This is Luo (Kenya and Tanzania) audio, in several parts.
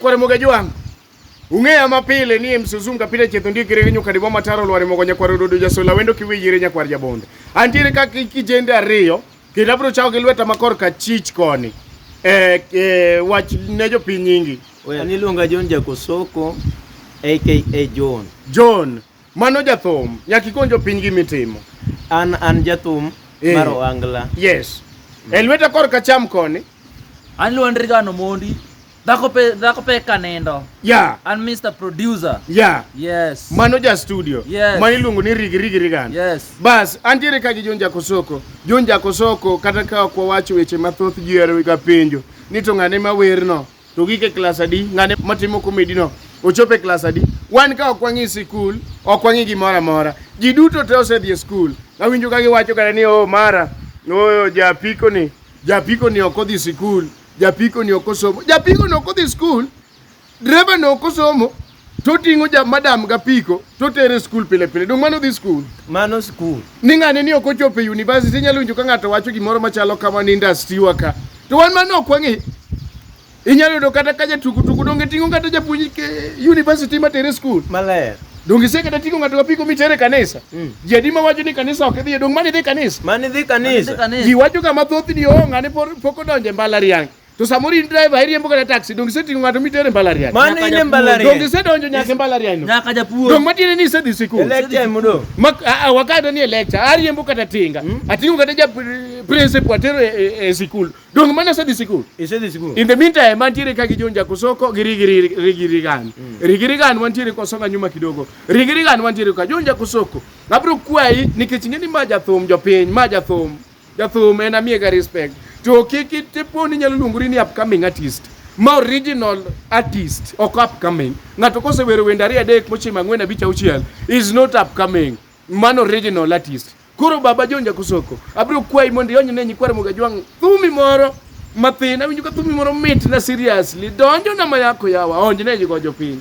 Kware moga jwang'. Ung'eya mapile ni msuzunga pile chetho ndie kire nyuka dibo mataro lware mogo nyakwar ododo jasola wendo kiwiyire nyakwar jabonde. Antiere ka kijende ariyo kendo abro chao gi lweta makor ka chich koni. Eh, eh, wach ne jopiny nyingi. Oya, niluonga John Jakosoko aka John. John. Mano jathum, nyaka ikon jopiny gi mitimo. An an jathum Eh. mar Ohangla. Yes. E lweta kor ka cham koni. An Luandri Gano Mondi. Dhako pe dhako pe kanendo. Yeah, An Mr. Producer. yeah. Yes. Mano ja studio. Yes. Ma iluongo ni rigi rigi rigana. Yes. Bas, antiere ka gi John Jakosoko. John Jakosoko kata ka ok wawacho weche mathoth ji ohero ga penjo ni to ng'ane ma werno. To gik e klas adi? Ng'ane matimo komedi no ochopo e klas adi? Wan ka ok wang'i sikul, ok wang'i gimoro amora. Ji duto te osedhi e skul. Awinjo ka giwacho kare ni oh mara, oh japiko ni, japiko ni ok odhi sikul, japiko ni ok osomo. Japiko ni ok odhi sikul, dreva ni ok osomo, toting'o ja madam ga piko totere skul pile pile dong mano dhi skul mano skul ni ng'ane ni ok ochopo e university inyalo winjo ka ng'ato wacho gimoro machalo kama ni industry wa ka to wan mano ok wang'e inyalo yudo kata ka jatukutuku donge ting'o kata japuonj university matere skul maler donge ise kata ting'o ng'ato kapiko mitere kanisa mm. ji adi ma wacho ni kanisa ok idhiye dong mani dhi kanisa mani dhi kanisa ji wacho kama thoth ni oo oh, ng'ane pok odonje mbalariany To samoro in driver iriembo kata taxi, donge iseting'o ng'ato mitere mbalariany? Mano Nyaka in e japuonj. mbalariany. Donge isedonjo nyaka e mbalariany no? Nyaka japuonj. Donge matiende ni isedhi sikul? Lecture ema odong'. Ma- a- a- wakadwa ni e lecture, ariembo kata tinga, ating'o kata ja pri- principal atero e- e e sikul. Donge mano asedhi sikul? Isedhi sikul. In the meantime, mantiere ka gi John Jakosoko gi Rigi Rigi- Rigi Rigan. Rigi Rigan wantiere kwa songa nyuma kidogo. Rigi Rigan wantiere kwa John Jakosoko. Abro kwayi nikech ing'e ni ma jathum jopiny, ma jathum. Jathum en amiega respect. To kik itiponi nyalo luongori ni upcoming artist. Ma original artist ok upcoming. Ng'ato kosewero wende ariyo adek mochimo ang'wen abich auchiel is not upcoming. Man original artist. Koro baba John Jakosoko, abiro kwayi mondo iony ne nyikwar Muga Jwang' thumi moro mathin. Awinjo ka thumi moro mit na seriously. Donjo na mayako yawa, onj ne jigo jopiny.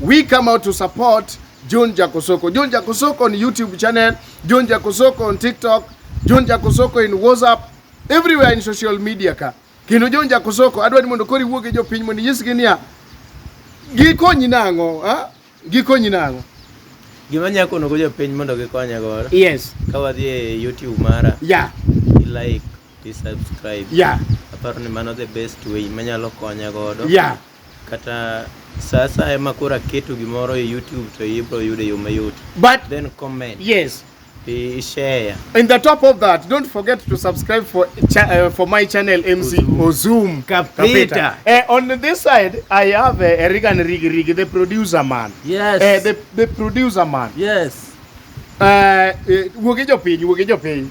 We come out to support John Jakosoko. John Jakosoko on YouTube channel, John Jakosoko on TikTok, John Jakosoko in WhatsApp, everywhere in social media ka. Kendo John Jakosoko adwa ni mondo kori wuoge e jopiny mondo inyisgi niya gikonyi nang'o, ha? Gikonyi nang'o. Gima nyako kono go jopiny mondo gikonya godo. Yes. Ka wadhi e YouTube mara. Yeah. I like, i subscribe. Yeah. Aparo ni mano the best way manyalo konya godo. Yeah. Kata sa asaya ma koro aketo gimoro e YouTube to ibro yudo e yo mayot. But Then comment. yes, I- Share. in the top of that, don't forget to subscribe for cha- uh, for my channel MC Ozum Kapita. Eh, on this side, I have uh, Erigan Rigi Rigi, the producer man. Yes. Eh, the, the producer man. Yes. Eh, eh, wuog e jopiny, wuog e jopiny.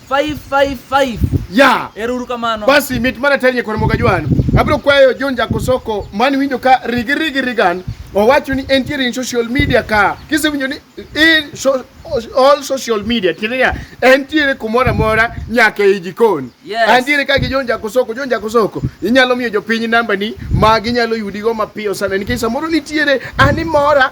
555 ya ero uru kamano basi mit mana tenye kod moga jwan abro kwayo John Jakosoko mani winjo ka rigi rigi rigan owacho ni entiere in social media ka kisewinjo ni in so, all social media tiende niya entiere kumoro amora nyaka e jikon yes. antiere ka gi John Jakosoko John Jakosoko inyalo miyo jopiny nambani ma ginyalo yudigo mapiyo sana nikech samoro nitiere animora